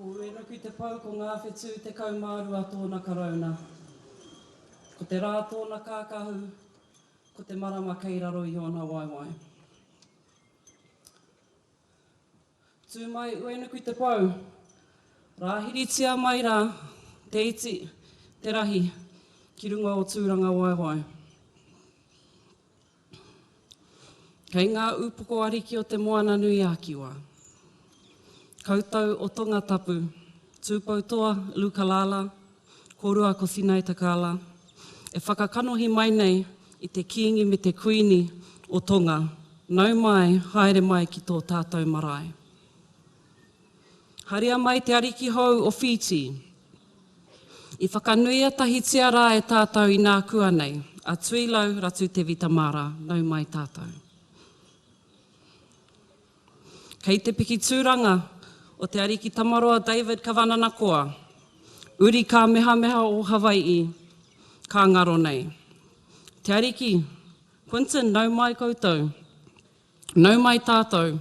Ko Uenuku te pou ko ngā whetū tekau mā rua tōna karauna. Ko te rā tōna kākahu, ko te marama kei raro i ōna waewae. Tū mai uenuku te pou. Rāhiritia mai rā te iti, te rahi, ki runga o Tūrangawaewae. Kei ngā upoko ariki o Te Moananui-a-Kiwa, Kautau o Tongatapu, Tūpoutoa, Lukalala, Kōrua ko Sinai Takaala e whakakanohi mai nei i te Kīngi me te Kuini o Tonga, nau mai, haere mai ki tō tātou marae. Haria mai te Ariki Hou o Whītī. I whakanuia tahitia rā e tātou inākuanei, a Tuilau Ratu Tevita Mara, nau mai tātou. Kei te piki tūranga o Te Ariki Tamaroa David Kavananakoa, Uri Kāmehameha o Hawai'i, ka ngaro nei. Te Ariki, Quinton nau mai koutou, nau mai tātou,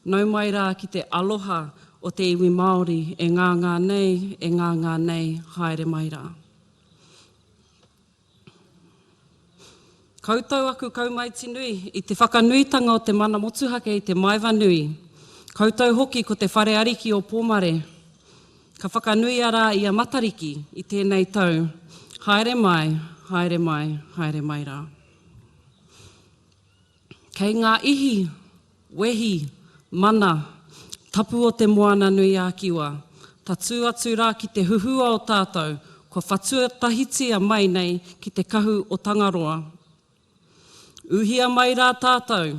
nau mai rā ki te aloha o te iwi Māori e ngāngā nei, e ngāngā nei, haere mai rā. Koutou aku kaumaiti nui, i te whakanuitanga o te mana motuhake i te maeva nui. Koutou hoki ko te whare ariki o Pōmare. Ka whakanuia rā i a Matariki i tēnei tau. Haere mai, haere mai, haere mai rā. Kei ngā ihi, wehi, mana, tapu o Te Moananui-a-Kiwa, tatū atu rā ki te huhua o tātou, kua whatuatahitia mai nei ki te kahu o Tangaroa. Uhia mai rā tātou,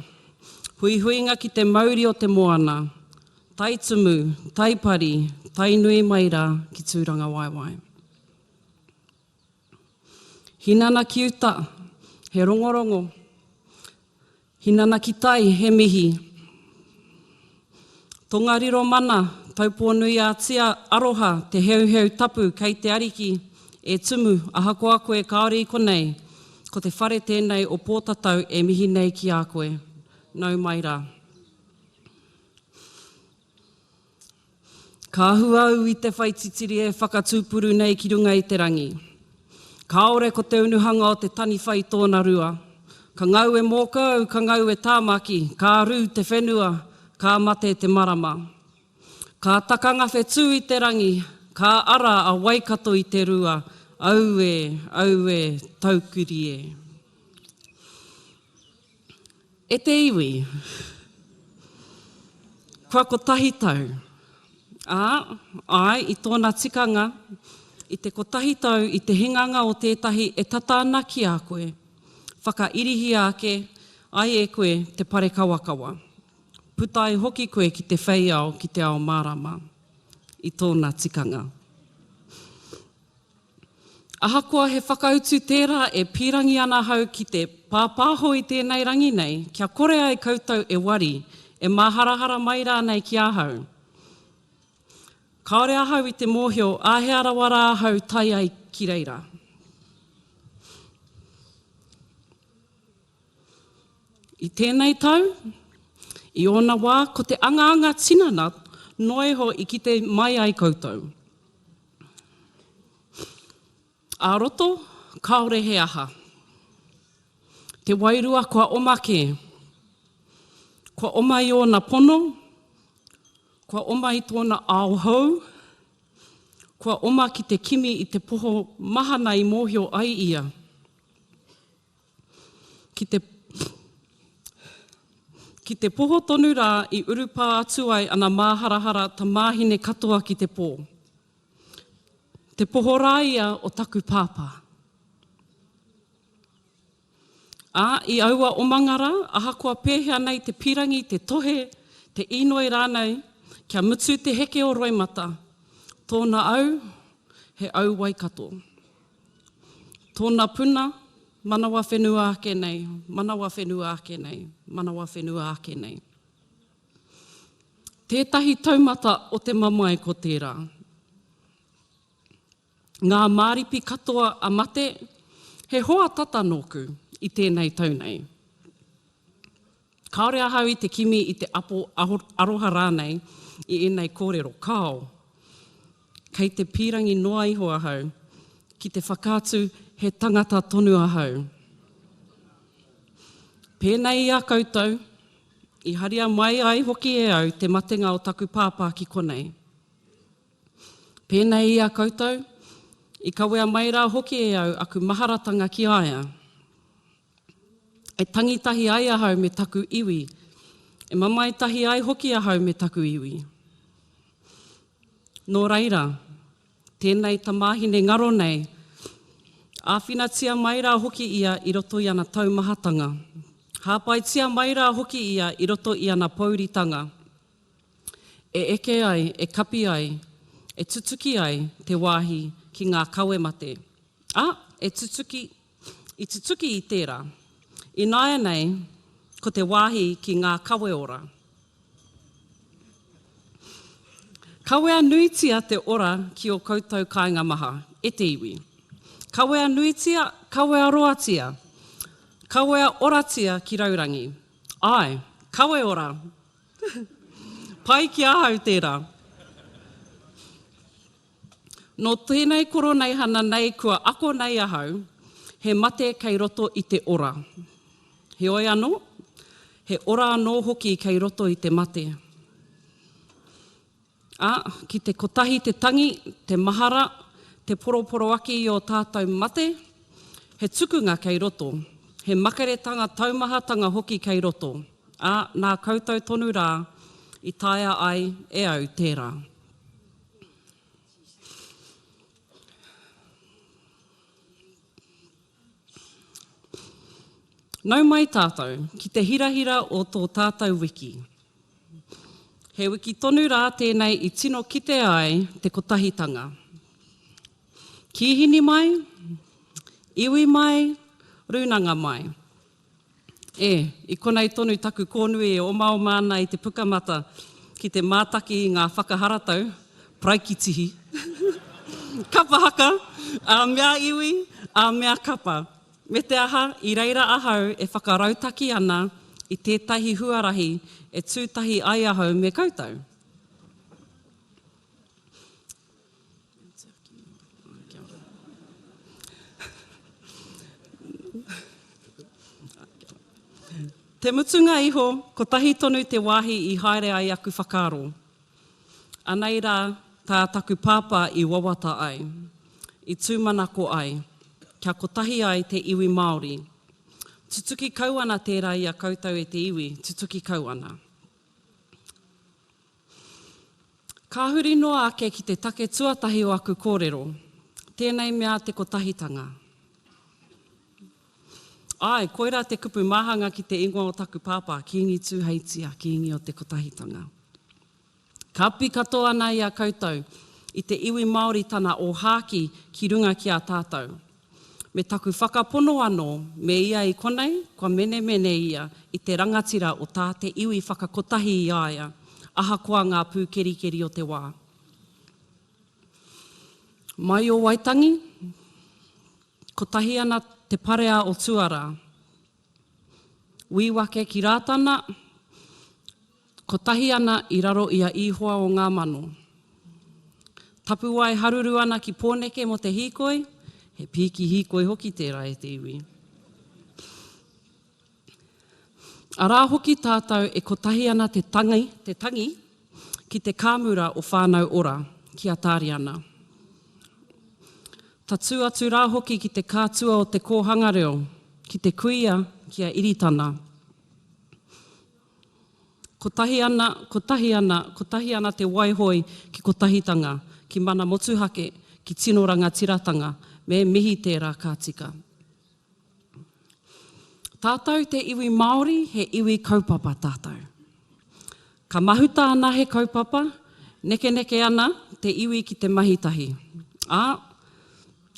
huihuinga ki te mauri o te moana, tae tumu, tae pari, tae nui mai rā ki Tūrangawaewae. Hinana ki uta, he rongorongo. Hinana ki tai, he mihi. Tongariro mana, Taupōnui-ā-Tia Aroha te heuheu tapu kei te Ariki e Tumu ahakoa koe kāore i konei, ko te whare tēnei o Pōtatau e mihi nei ki a koe. Nau mai rā. Ka hua au i te whai titiri e whakatūpuru nei ki runga i te rangi. Kāore ko te unuhanga o te taniwha i tōna rua. Ka ngau e mōka au, ka ngau e Tāmaki, ka rū te whenua, ka mate te marama. Ka taka ngawhetū i te rangi, ka ara a Waikato i te rua, Aue, aue, Taukiri e. E te iwi, kua kotahi tau, ā, āe i tōna tikanga, i te kotahi tau i te hinganga o tētahi e tata ana ki a koe, whakairihia ake ai e koe te parekawakawa, puta ai hoki koe ki te whei ao ki te ao mārama, i tōna tikanga. Ahakoa he whakautu tērā e pīrangi ana ahau ki te pāpāho i tēnei rangi nei kia kore ai koutou e wari, e māharahara mai rānei ki ahau. Kāore ahau i te mōhio āhea rawa rā ahau tae ai ki reira. I tēnei tau, i ōna wā, ko te angaanga tinana noa iho i kite mai ai koutou. Ā-roto, kāore he aha. Te wairua kua oma kē. Kua oma i ōna pono, kua oma i tōna ao hou, kua oma ki te kimi i te poho mahana i mōhio ai ia. ki te ki te poho tonu rā i urupā atu ai ana māharahara tamāhine katoa ki te pō. Te poho rā ia o taku pāpā. Ā, i aua omanga rā, ahakoa pēhea nei te pīrangi, te tohe, te īnoi rānei, kia mutu te heke o roimata, tōna au, he au Waikato. Tōna puna, manawa whenua ake nei, manawa whenua ake nei, manawa whenua ake nei. Tētahi taumata o te mamae ko tērā. Ngā māripi katoa a mate, he hoa tata nōku i tēnei tau nei. Kāore ahau i te kimi i te apo aroha rānei i ēnei kōrero, kāo. Kei te pīrangi noa iho ahau ki te whakaatu he tangata tonu ahau. Pēnei i a koutou, i haria mai ai hoki e au te matenga o taku pāpā ki konei. Pēnei i a koutou, i kawea mai rā hoki e au aku maharatanga ki a ia. E tangi tahi ai ahau me taku iwi, e mamae tahi ai hoki ahau me taku iwi. Nō reira, tēnei tamāhine ngaro nei, āwhinatia mai rā hoki ia i roto i ana taumahatanga, hāpaitia mai rā hoki ia i roto i ana pōuritanga, e eke ai, e kapi ai, e tutuki ai te wāhi ki ngā kawe mate, ā, e tutuki, I tutuki i tērā. Ināianei ko te wāhi ki ngā kawe ora. Kawea nuitia te ora ki ō koutou kāinga maha, e te iwi. Kawea nuitia, kawea roatia, kawea oratia ki raurangi. Āe, kawe ora! Pai ki ahau tērā. Nō tēnei Koroneihana nei kua ako nei ahau, he mate kei roto i te ora. Heoi anō, he ora anō hoki kei roto i te mate. Ā, ki te kotahi te tangi, te mahara, te poroporoaki i ō tātou mate, he tukunga kei roto, he makaretanga taumahatanga hoki kei roto, ā, nā koutou tonu rā i taea ai e au tērā. Nau mai tātou ki te hirahira o tō tātou wiki. He wiki tonu rā tēnei i tino kite ai te kotahitanga. Kīhini mai, iwi mai, rūnanga mai. E, i konei tonu taku kōnui e omaoma ana i te pukamata ki te mātaki i ngā whakaharatau, paraikitihi, kapa haka, ā mea iwi, ā mea kapa. Me te aha, i reira ahau e whakarautaki ana i tētahi huarahi e tū tahi ai ahau me koutou. Te mutunga iho, kotahi tonu te wāhi i haere ai aku whakaaro. Anei rā tā taku pāpā i wawata ai, i tūmanako ai, kia kotahi ai te iwi Māori. Tutuki kau ana tērā i a koutou e te iwi, tutuki kau ana. Ka huri noa ake ki te take tuatahi o aku kōrero, tēnei mea te kotahitanga. Āe, koirā te kupu māhanga ki te ingoa o taku pāpā, Kīngi Tūheitia, Kīngi o te Kotahitanga. Ka pi katoa ana i a koutou, i te iwi Māori tana ōhāki ki runga ki a tātou. Me taku whakapono anō, me ia i konei, kua menemene ia i te rangatira o tā te iwi whakakotahi i a ia, ahakoa ngā pūkerikeri o te wā. Mai o Waitangi, kotahi ana te parea o Tuarā. Wīwake ki Rātana, kotahi ana i raro i a Ihoa o ngā mano. Tapuwae haruru ana ki Pōneke mō te hīkoi, he pīki hīkoi hoki tērā e te iwi. Arā hoki tātou e kotahi ana te tangi, te tangi ki te kāmura o Whānau Ora, ki Atariana. Tatū atu rā hoki ki te kātua o te kōhanga reo, ki te kuia ki a Iritana. Kotahi ana, kotahi ana, kotahi ana te waihoi ki Kotahitanga, ki Mana Motuhake, ki tino rangatiratanga, me mihi tērā ka tika. Tātou te iwi Māori he iwi kaupapa tātou. Ka mahuta ana he kaupapa, nekeneke ana te iwi ki te mahi tahi. Ā,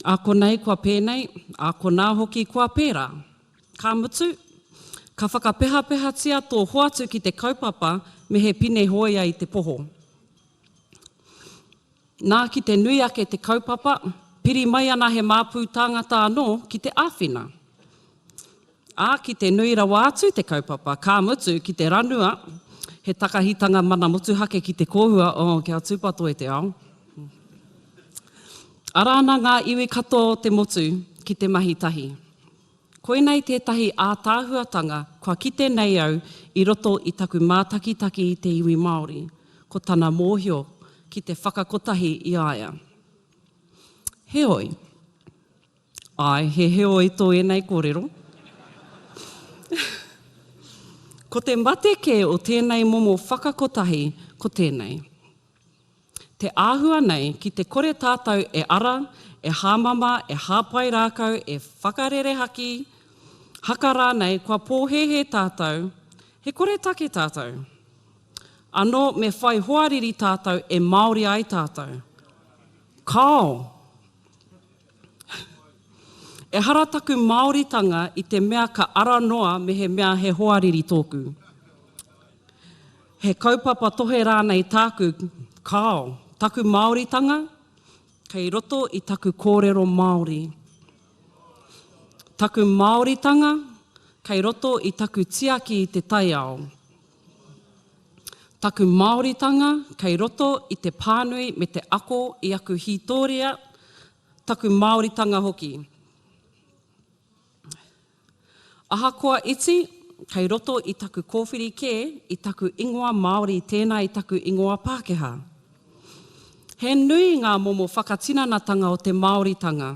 ā konei kua pēnei, ā konā hoki kua pērā. Ka mutu, ka whakapehapehatia tō hoatu ki te kaupapa me he pine hōia i te poho. Nā, ki te nui ake te kaupapa, piri mai ana he māpū tāngata anō ki te āwhina. Ā, ki te nui rawa atu te kaupapa, ka mutu, ki te ranua, he takahitanga mana motuhake ki te kōhua, oh, kia tūpato e te ao. Ara ana ngā iwi katoa o te motu ki te mahi tahi. Koinei tētahi ātaahuatanga kua kite nei au i roto i taku mātakitaki i te iwi Māori, ko tana mōhio ki te whakakotahi i a ia. Heoi. Āe, he heoi tō ēnei kōrero. Ko te mate kē o tēnei momo whakakotahi ko tēnei. Te āhua nei ki te kore tātou e ara, e hāmama, e hāpai rākau, e whakarerehaki, haka rānei, kua pōhēhē tātou, he koretake tātou. Anō me whai hoariri tātou e Māori ai tātou. Kāo! Ehara taku Māoritanga i te mea ka ara noa mehemea he hoariri tōku. He kaupapa tohe rānei tāku, kāo, taku Māoritanga kei roto i taku kōrero Māori. Taku Māoritanga kei roto i taku tiaki i te taiao. Taku Māoritanga kei roto i te pānui me te ako i aku hītōria, taku Māoritanga hoki. Ahakoa iti, kei roto i taku kōwhiri kē i taku ingoa Māori tēnā i taku ingoa Pākehā. He nui ngā momo whakatinanatanga o te Māoritanga.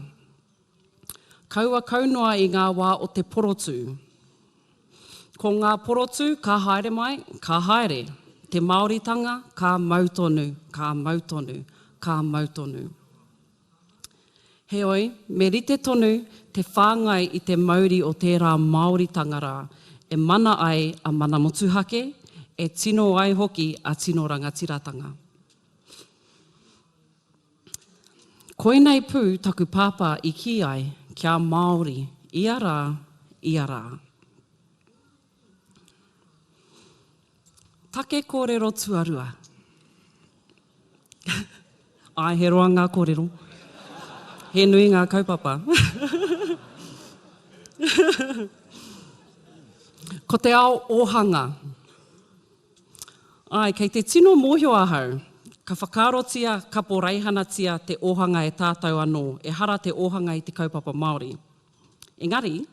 Kaua kau noa i ngā wā o te porotū. Ko ngā porotū ka haere mai, ka haere. Te Māoritanga ka mau tonu, ka mau tonu, ka mau tonu. Heoi, me rite tonu te whāngai i te mauri o tērā Māoritanga rā, e mana ai a Mana Motuhake, e tino ai hoki a tino rangatiratanga. Koinei pū taku pāpā i kī ai, kia Māori, ia rā, ia rā. Take kōrero tuarua. Āe, he roa ngā kōrero. He nui ngā kaupapa. Ko te ao ōhanga. Āe, kei te tino mōhio ahau, ka whakaarotia, kaporeihanatia te ōhanga e tātou anō, ehara te ōhanga i te kaupapa Māori. Engari.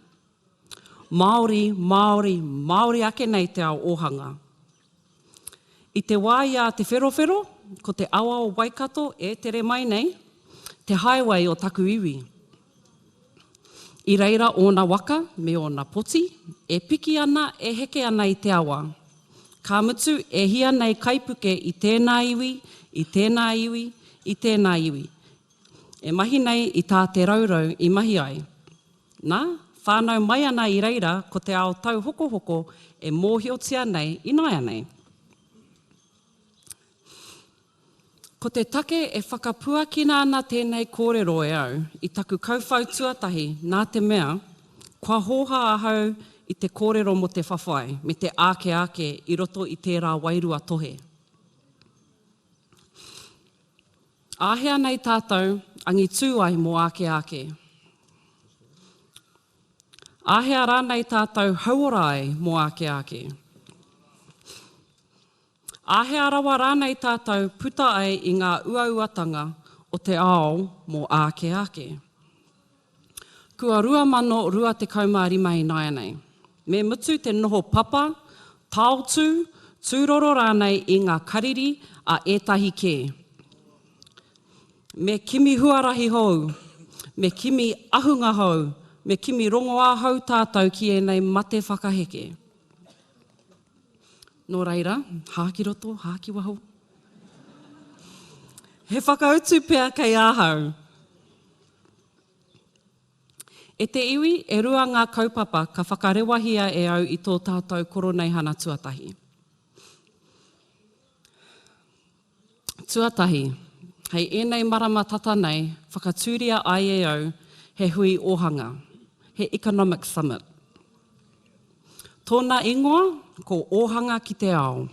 Māori, Māori, Māori ake nei te ao ōhanga. I te wā i a Te Wherowhero, ko te awa o Waikato e tere mai nei, te highway o taku iwi. I reira ōna waka me ōna poti, e piki ana, e heke ana i te awa. Ka mutu, e hia nei kaipuke i tēnā iwi, i tēnā iwi, i tēnā iwi. E mahi nei i tā Te Raurau i mahi ai. Nā, whānau mai ana i reira ko te ao tauhokohoko e mōhiotia nei ināianei. Ko te take e whakapuakina ana tēnei kōrero e au i taku kauwhau tuatahi nā te mea, kua hōhā ahau i te kōrero mō te whawhai me te āke āke i roto i tērā wairua tohe. Āhea nei tātou angitū ai mō āke āke? Āhea rānei tātou hauora ai mō āke āke? Āhea rawa rānei tātou puta ai i ngā uauatanga o te ao mō āke āke? Kua 2025 ināianei, me mutu te noho papa, taotū, tūroro rānei i ngā kariri a ētahi kē. Me kimi huarahi hou, me kimi ahunga hou, me kimi rongoā hou tātou ki ēnei mate whakaheke. Nō reira, hā ki roto, hā ki waho. He whakautu pea kei ahau. E te iwi, e rua ngā kaupapa ka whakarewahia e au i tō tātou Koroneihana tuatahi. Tuatahi, hei ēnei marama tata nei, whakatūria ai e au he hui ōhanga, he Economic Summit. Tōna ingoa ko Ōhanga ki te Ao.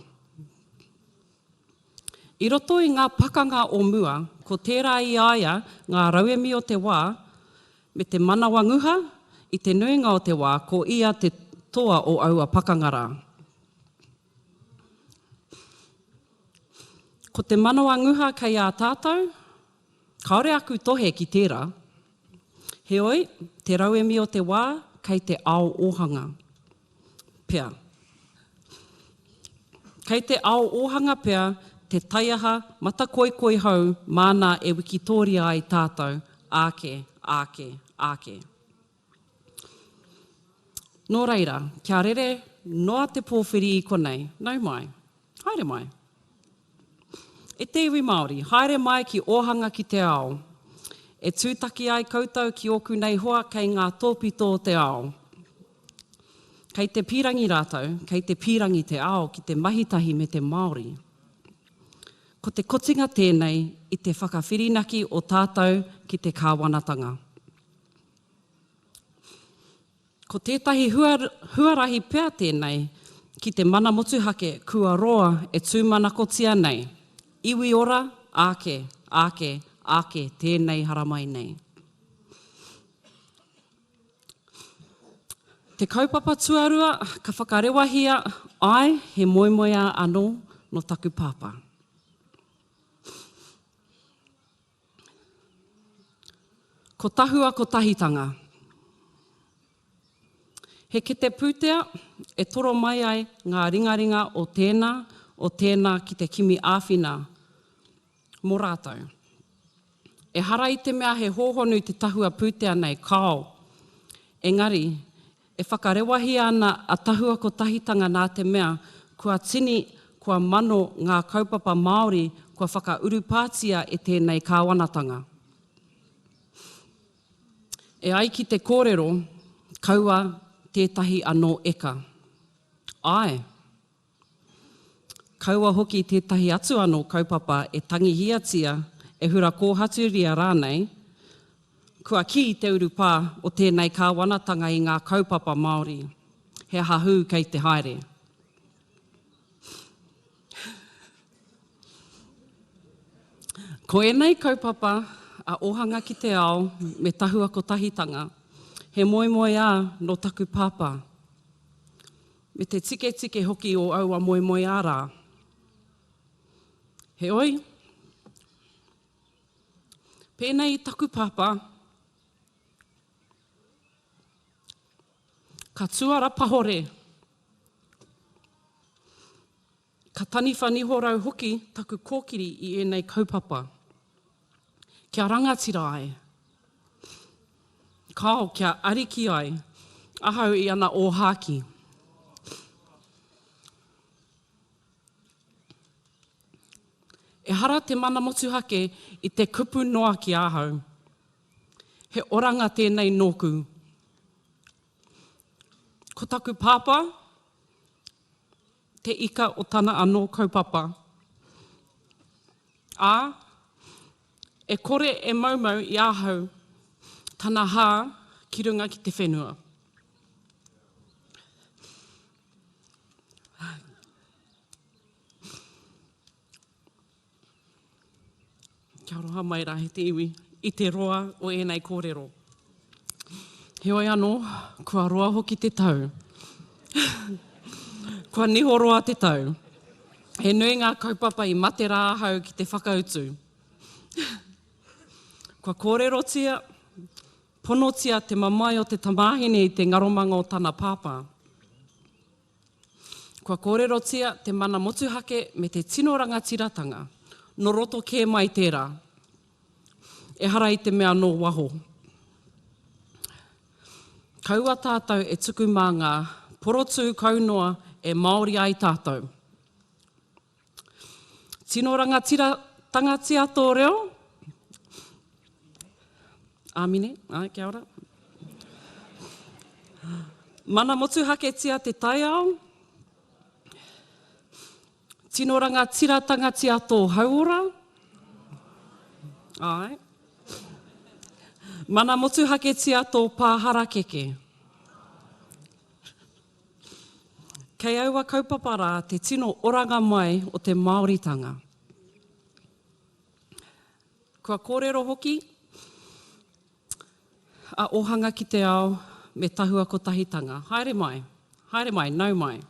I roto i ngā pakanga o mua, ko tērā i a ia ngā rauemi o te wā, me te manawa nguha, i te nuinga o te wā, ko ia te toa o aua pakanga rā. Ko te manawa nguha kei a tātou, Kāore aku tohe ki tērā. Heoi, te rauemi o te wā, kei te ao ōhanga. Pea. Kei te ao ōhanga pea te taiaha matakoikoi hou māna e wikitōria ai tātou, āke, āke, āke. Nō reira, kia rere noa te pōwhiri i konei, nau mai. Haere mai. E te iwi Māori, haere mai ki Ōhanga ki te Ao. E tūtaki ai koutou ki ōku nei hoa kei ngā tōpito o te ao. Kei te pīrangi rātou, kei te pīrangi te ao ki te mahitahi me te Māori. Ko te kotinga tēnei i te whakawhirinaki o tātou ki te kāwanatanga. Ko tētahi huarahi pea tēnei ki te mana motuhake kua roa e tūmanakotia nei, iwi ora, āke, āke, āke tēnei haramai nei. Te kaupapa tuarua ka whakarewahia, āe, he moemoeā anō nō taku pāpā. Ko Tahua Kotahitanga He kete pūtea e toro mai ai ngā ringaringa o tēnā, o tēnā ki te kimi āwhina mō rātou. Ehara i te mea he hōhonu te tahua pūtea nei, kāo. Engari, E whakarewahia ana a Tahua Kotahitanga nā te mea kua tini, kua mano ngā kaupapa Māori kua whakaurupātia e tēnei kāwanatanga. E ai ki te kōrero, kaua tētahi anō eka. Āe. Kaua hoki tētahi atu anō kaupapa e tangihiatia, e hura kōhaturia rānei, kua kī te urupā o tēnei kāwanatanga i ngā kaupapa Māori, he aha hū kei te haere? Ko ēnei kaupapa a Ohanga ki te Ao me Tahua Kotahitanga, he moemoeā nō taku pāpā. Me te tiketike hoki o aua moemoeā rā. Heoi, pēnei i taku pāpā, ka tuara pahore. Ka taniwha niho rau hoki taku kōkiri i ēnei kaupapa. Kia rangatira ai. Kāo, kia ariki ai. Ahau i ana ōhākī. Ehara te mana motuhake i te kupu noa ki ahau. He oranga tēnei nōku. Ko taku pāpā, te ika o tana anō kaupapa, ā, e kore e maumau i ahau tana hā ki runga ki te whenua. Kia roa mai rā e te iwi i te roa o ēnei kōrero. Heoi anō, kua roa hoki te tau. kua niho roa te tau. He nui ngā kaupapa i mate rā ahau ki te whakautu. kua kōrerotia, ponotia te mamae o te tamāhine i te ngaromanga o tana pāpā. Kua kōrerotia te mana motuhake me te tino rangatiratanga, nō roto kē mai tērā, ehara i te mea nō waho. Kaua tātou e tuku mā ngā porotū kau noa e Māori ai tātou. Tino rangatiratangatia tō reo. Āmine, āe kia ora. Mana motuhaketia te taiao. Tino rangatiratangatia tō hauora. Āe. Mana motuhaketia tō pā harakeke. Kei aua kaupapa rā te tino oranga mai o te Māoritanga. Kua kōrero hoki a Ōhanga ki te Ao me Tahua Kotahitanga, haere mai, haere mai, nau mai.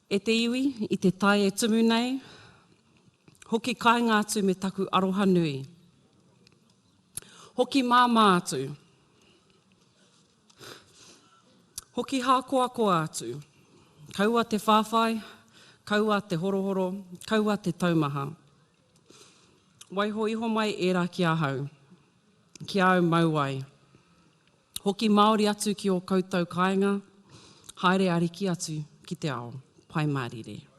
E te iwi, i te tai e tumu nei, hoki kāinga atu me taku aroha nui. Hoki māmā atu. Hoki hākoakoa atu. Kaua te whāwhai, kaua te horohoro, kaua te taumaha. Waiho iho mai ērā ki ahau, ki āu mau ai. Hoki Māori atu ki ō koutou kāinga, haere ariki atu ki te ao. Pai mārire.